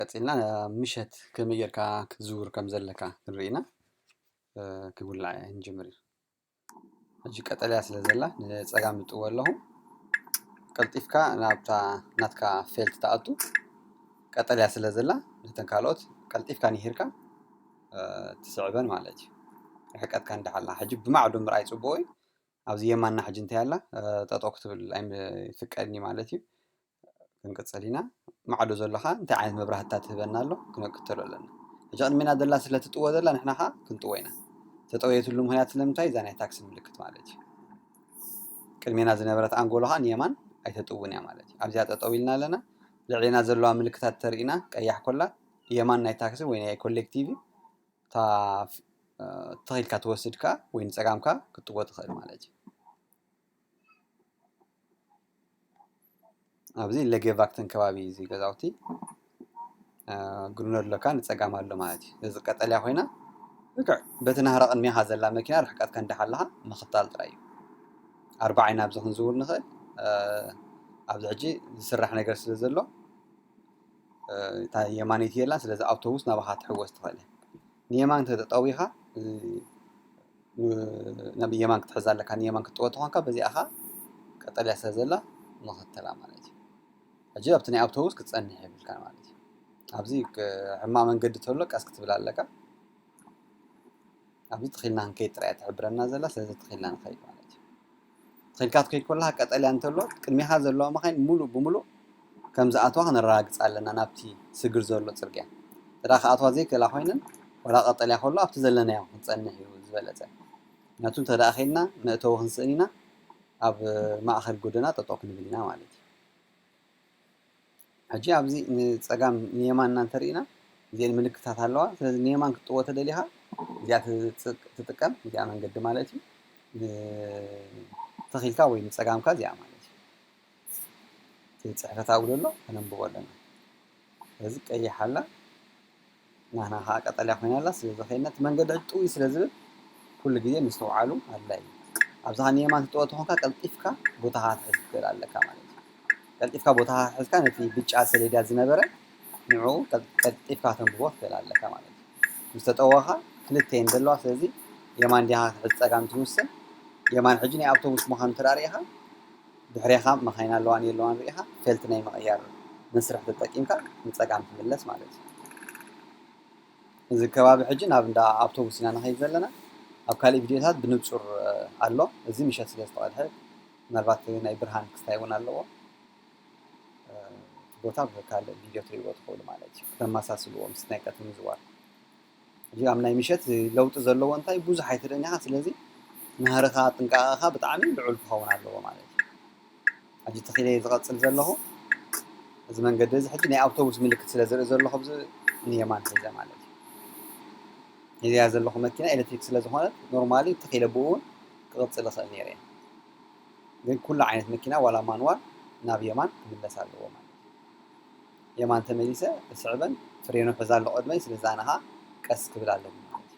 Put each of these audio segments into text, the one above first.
ቀጺልና ምሸት ከመይ ጌርካ ክትዝውር ከም ዘለካ ክንርኢ ኢና ክውላዕ ንጅምር እዩ ሕጂ ቀጠልያ ስለ ዘላ ንጸጋም እጥዎ ኣለኹ ቀልጢፍካ ናብታ ናትካ ፌልት ትኣቱ ቀጠልያ ስለ ዘላ ነተን ካልኦት ቀልጢፍካ ንሂርካ ትስዕበን ማለት እዩ ርሕቀትካ እንዳሓላ ሕጂ ብማዕዶ ምርኣይ ጽቡቕ እዩ ኣብዚ የማና ሕጂ እንታይ ኣላ ጠጠው ክትብል ኣይፍቀድኒ ማለት እዩ ክንቅጽል ኢና ማዕዶ ዘሎ ከኣ እንታይ ዓይነት መብራህትታት ትህበና ኣሎ ክንክተሎ ኣለና ሕጂ ቅድሜና ዘላ ስለ ትጥወ ዘላ ንሕና ከኣ ክንጥወ ኢና ተጠውየትሉ ምክንያት ስለምንታይ እዛ ናይ ታክሲ ምልክት ማለት እዩ ቅድሜና ዝነበረት ኣንጎሎ ከኣ ንየማን ኣይተጥውን እያ ማለት እዩ ኣብዚኣ ጠጠው ኢልና ኣለና ልዕሌና ዘለዋ ምልክታት ተርኢና ቀያሕ ኮላ የማን ናይ ታክሲ ወይ ናይ ኮሌክቲቭ እታ ተኺልካ ትወስድ ከኣ ወይ ንጸጋምካ ክትጥወ ትኽእል ማለት እዩ ኣብዚ ለጌቫክተን ከባቢ እዚ ገዛውቲ ግሪኖ ኣለካ ንፀጋም ኣሎ ማለት እዩ እዚ ቀጠልያ ኮይና ልክዕ በቲ ናህራ ቅድሜኻ ዘላ መኪና ርሕቀት ከንዲ ሓለኻ ምኽታል ጥራይ እዩ ኣርባ ዓይና ኣብዚ ክንዝውር ንኽእል ኣብዚ ሕጂ ዝስራሕ ነገር ስለ ዘሎ እታ የማነይቲ የላን ስለዚ ኣውቶቡስ ናባኻ ትሕወስ ትኽእል ንየማን ተጠጠዊኻ ናብ የማን ክትሕዛ ኣለካ ንየማን ክትጥወ ተኾንካ በዚኣ ከኣ ቀጠልያ ስለ ዘላ መኸተላ ማለት እዩ ሕጂ ኣብቲ ናይ ኣብቶቡስ ክትጸንሕ የብልካን ማለት እዩ ኣብዚ ሕማቅ መንገዲ ተሎ ቀስ ክትብል ኣለካ ኣብዚ ትኺልና ክንከይድ ጥራይ እያ ትሕብረና ዘላ ስለዚ ትኺልና ንኸይድ ማለት እዩ ኼድካ ትኸይድ ከለኻ ቀጠልያ እንተሎ ቅድሜኻ ዘለዋ መኻይን ምሉእ ብምሉእ ከም ዝኣትዋ ክነረጋግጽ ኣለና ናብቲ ስግር ዘሎ ጽርግያ እንተ ክኣትዋ ዘይክእላ ኮይነን ዋላ ቀጠልያ ከሎ ኣብቲ ዘለናዮ ክንጸንሕ እዩ ዝበለጸ ምክንያቱ እንተ ኸይድና መእተዊ ክንስእን ኢና ኣብ ማእኸል ጎደና ጠጠው ክንብል ኢና ማለት እዩ ሕጂ ኣብዚ ንጸጋም ንየማን እና እንተሪኢና እዚኤን ምልክታት ኣለዋ። ስለዚ ንየማን ክትጥዎ ተደሊኻ እዚኣ ትጥቀም እዚኣ መንገዲ ማለት እዩ። ንተኺልካ ወይ ንጸጋምካ እዚኣ ማለት እዩ። እቲ ጽሕፈት ኣብኡ ዘሎ ከነንብቦ ኣለና። ስለዚ ቀይሕ ኣላ ናህና ከኣ ቀጠልያ ኮይና ኣላ ስለዚ ከይድና እቲ መንገዲ ሕጂ ጥውይ ስለ ዝብል ኩሉ ግዜ ምስትውዓሉ ኣድላይ እዩ ኣብዚ ከኣ ንየማን ትጥወ ተኾንካ ቀልጢፍካ ቦታኻ ክትሕዝ ትኽእል ኣለካ ማለት እዩ ቀልጢፍካ ቦታኻ ክትሕዝካ ነቲ ብጫ ሰሌዳ ዝነበረ ንዕኡ ቀልጢፍካ ተንብቦ ትኽእል ኣለካ ማለት እዩ ምስ ተጠወኻ ክልተ እየን ዘለዋ ስለዚ የማን ዲኻ ክትሕዝ ጸጋም ትውስን የማን ሕጂ ናይ ኣብቶቡስ ምዃኑ እንተ ርኢኻ ድሕሬኻ መኻይን ኣለዋን የለዋን ሪኢኻ ፌልት ናይ ምቕያር መስርሕ ተጠቂምካ ንጸጋም ትምለስ ማለት እዩ። እዚ ከባቢ ሕጂ ናብ እንዳ ኣውቶቡስ ኢና ንኸይድ ዘለና ኣብ ካልእ ቪድዮታት ብንጹር ኣሎ እዚ ምሸት ስለ ዝተቐድሐ ምናልባት ናይ ብርሃን ክስታይ እውን ኣለዎ እቲ ቦታ ብካልእ ቪድዮ ትሪእዎ ትኽእሉ ማለት እዩ ክተመሳስልዎ ምስ ናይ ቀትሪ ምዝዋር እዚኦም ናይ ምሸት ለውጢ ዘለዎ እንታይ ብዙሕ ኣይትርእን ኢኻ ስለዚ ናህርኻ ጥንቃቐኻ ብጣዕሚ ልዑል ክኸውን ኣለዎ ማለት እዩ ኣብዚ ተኺለ ዝቐፅል ዘለኹ እዚ መንገዲ እዚ ሕጂ ናይ ኣውቶቡስ ምልክት ስለ ዝርኢ ዘለኹ ብዚ ንየማን ሒዘ ማለት እዩ እዚኣ ዘለኹ መኪና ኤሌክትሪክ ስለ ዝኾነት ኖርማሊ ተኺለ ብኡ እውን ክቕፅል ይኽእል ነይረ ግን ኩሉ ዓይነት መኪና ዋላ ማንዋል ናብ የማን ክምለስ ኣለዎ ማለት እዩ የማን ተመሊሰ ክስዕበን ፍሬኑ ሕዛ ኣሎ ቅድመይ ስለዚ ኣነ ከኣ ቀስ ክብል ኣለኒ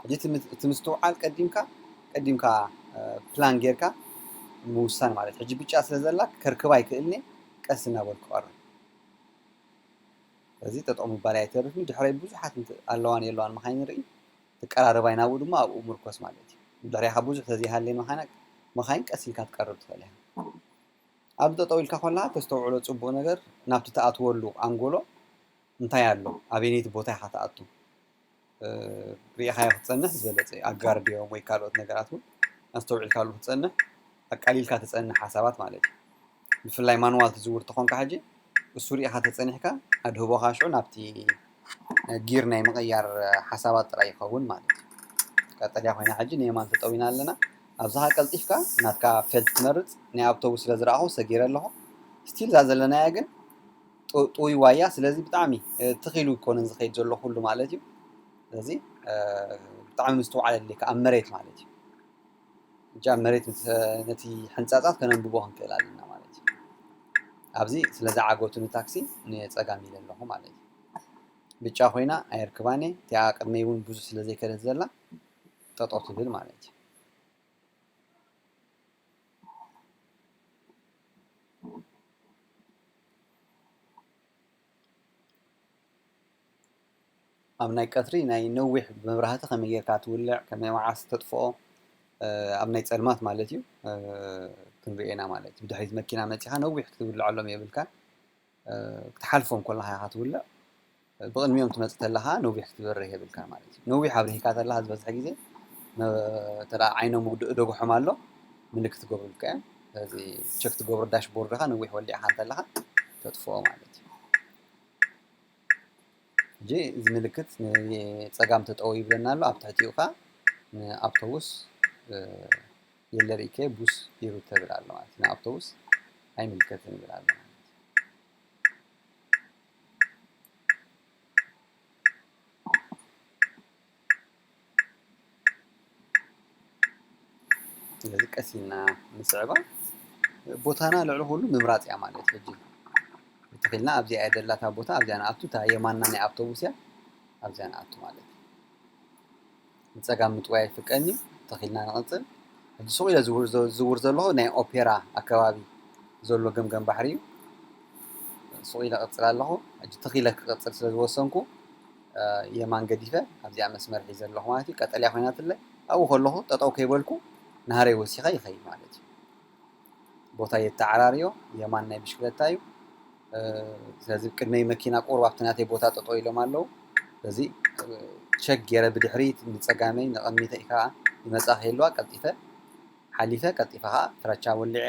ሕጂ እቲ ምስትውዓል ቀዲምካ ቀዲምካ ፕላን ጌርካ ምውሳን ማለት ሕጂ ብጫ ስለ ዘላ ከርክባ ይክእልኒ ቀስ እናበልኩ ቀርብ እዚ ጠጠው ምባል ኣይተርፍኒ ድሕረይ ብዙሓት ኣለዋን የለዋን መኻይን ንርኢ ትቀራረባይ ናብኡ ድማ ኣብኡ ምርኮስ ማለት እዩ ድሕሪኻ ብዙሕ ተዘይሃለየ መኻይን ቀስ ኢልካ ትቀርብ ትኽእል ኢኻ ኣብዚ ጠጠው ኢልካ ኮላ ተስተውዕሎ ጽቡቅ ነገር ናብቲ ትኣትወሉ ኣንጎሎ እንታይ ኣሎ ኣበየነይቲ ቦታ ኢኻ ትኣቱ ሪኢኻዮ ክትጸንሕ ዝበለጸ እዩ ኣጋር ድዮም ወይ ካልኦት ነገራት ውን ኣስተውዒልካሉ ክትጸንሕ ኣቃሊልካ ትጸንሕ ሓሳባት ማለት እዩ ብፍላይ ማንዋል ትዝውር ተኾንካ ሕጂ እሱ ሪኢኻ ተጸኒሕካ ኣድህቦኻ ሽዑ ናብቲ ጊር ናይ ምቕያር ሓሳባት ጥራይ ይኸውን ማለት እዩ። ቀጠልያ ኮይና ሕጂ ንየማን ተጠዊና ኣለና። ኣብዛ ከኣ ቀልጢፍካ ናትካ ፌልት ትመርጽ። ናይ ኣብቶቡስ ስለ ዝረኣኹ ሰጊረ ኣለኹ። ስቲል እዛ ዘለናያ ግን ጥ- ጥውይዋ እያ። ስለዚ ብጣዕሚ እ፣ ትኽ ኢሉ ኣይኮነን ዝኸይድ ዘሎ ኩሉ ማለት እዩ። ስለዚ እ፣ ብጣዕሚ ምስትውዓል የድልየካ ኣብ መሬት ማለት እዩ። ሕጂ ኣብ መሬት ነቲ ሕንጻጻት ከነንብቦ ክንክእል ኣለና ማለት እዩ። ኣብዚ ስለ ዝዓገቱ ንታክሲ ንጸጋም ኢለ ኣለኹ ማለት እዩ። ብጫ ኮይና ኣየርክባን እየ እቲኣ ቅድመይ እውን ብዙሕ ስለ ዘይከደት ዘላ ጠጠው ትብል ማለት እዩ። ኣብ ናይ ቀትሪ ናይ ነዊሕ መብራህቲ ከመይ ጌርካ ትውልዕ ከመይ መዓስ ተጥፍኦ ኣብ ናይ ጸልማት ማለት እዩ ክንሪኦ ኢና ማለት እዩ ብድሕሪት መኪና መጺኻ ነዊሕ ክትውልዐሎም የብልካን ክትሓልፎም ኮለኻ ኢኻ ትውልዕ ብቕድሚኦም ትመጽእ ተለኻ ነዊሕ ክትበርህ የብልካ ማለት እዩ ነዊሕ ኣብርሂካ ተለኻ ዝበዝሐ ግዜ ተደኣ ዓይኖም ውግእ ደጉሖም ኣሎ ምልክት ክገብሩልካ እዮም እዚ ቸክ ትገብሮ ዳሽቦርድኻ ነዊሕ ወሊዕኻ እንተለኻ ተጥፍኦ ማለት እዩ ሕጂ እዚ ምልክት ፀጋም ተጠው ይብለና ኣሎ ኣብ ትሕቲኡ ከዓ ንኣውቶቡስ የለርኢከ ቡስ ይሩተ ብል ኣሎ ማለት እዩ ንኣውቶቡስ ኣይምልከትን ይብል ኣሎ ስለዚ ቀስ ኢልና ንስዕባ ቦታና ልዕሊ ኩሉ ምምራፅ እያ ማለት ሕጂ እንተኺልና ኣብዚኣ እያ ደላታ ቦታ ኣብዚኣ ንኣቱ እታ የማና ናይ ኣብቶቡስ እያ ኣብዚኣ ንኣቱ ማለት እዩ ንፀጋም ምጥዋይ ኣይፍቀን እዩ ተኺልና ንቕፅል ሕጂ ሱቕ ኢለ ዝውር ዘለኹ ናይ ኦፔራ ኣከባቢ ዘሎ ገምገም ባሕሪ እዩ ሱቕ ኢለ ቕፅል ኣለኹ ሕጂ ተኺለ ክቕፅል ስለ ዝወሰንኩ የማን ገዲፈ ኣብዚኣ መስመር ሒዘ ኣለኹ ማለት እዩ። ቀጠልያ ኮይናትለይ ኣብኡ ከለኹ ጠጠው ከይበልኩ ናህረይ ወሲኸ ይኸይድ ማለት እዩ። ቦታ የተዓራርዮ የማን ናይ ብሽክለታ እዩ። ስለዚ ቅድመይ መኪና ቁሩብ ኣብቲ ናተይ ቦታ ጠጠው ኢሎም ኣለዉ። ስለዚ ቸክ ገይረ ብድሕሪት ንፀጋመይ ንቐሚተ ከዓ ይመፃ ከይለዋ ቀልጢፈ ሓሊፈ ቀልጢፈ ከዓ ፍራቻ ወሊዐ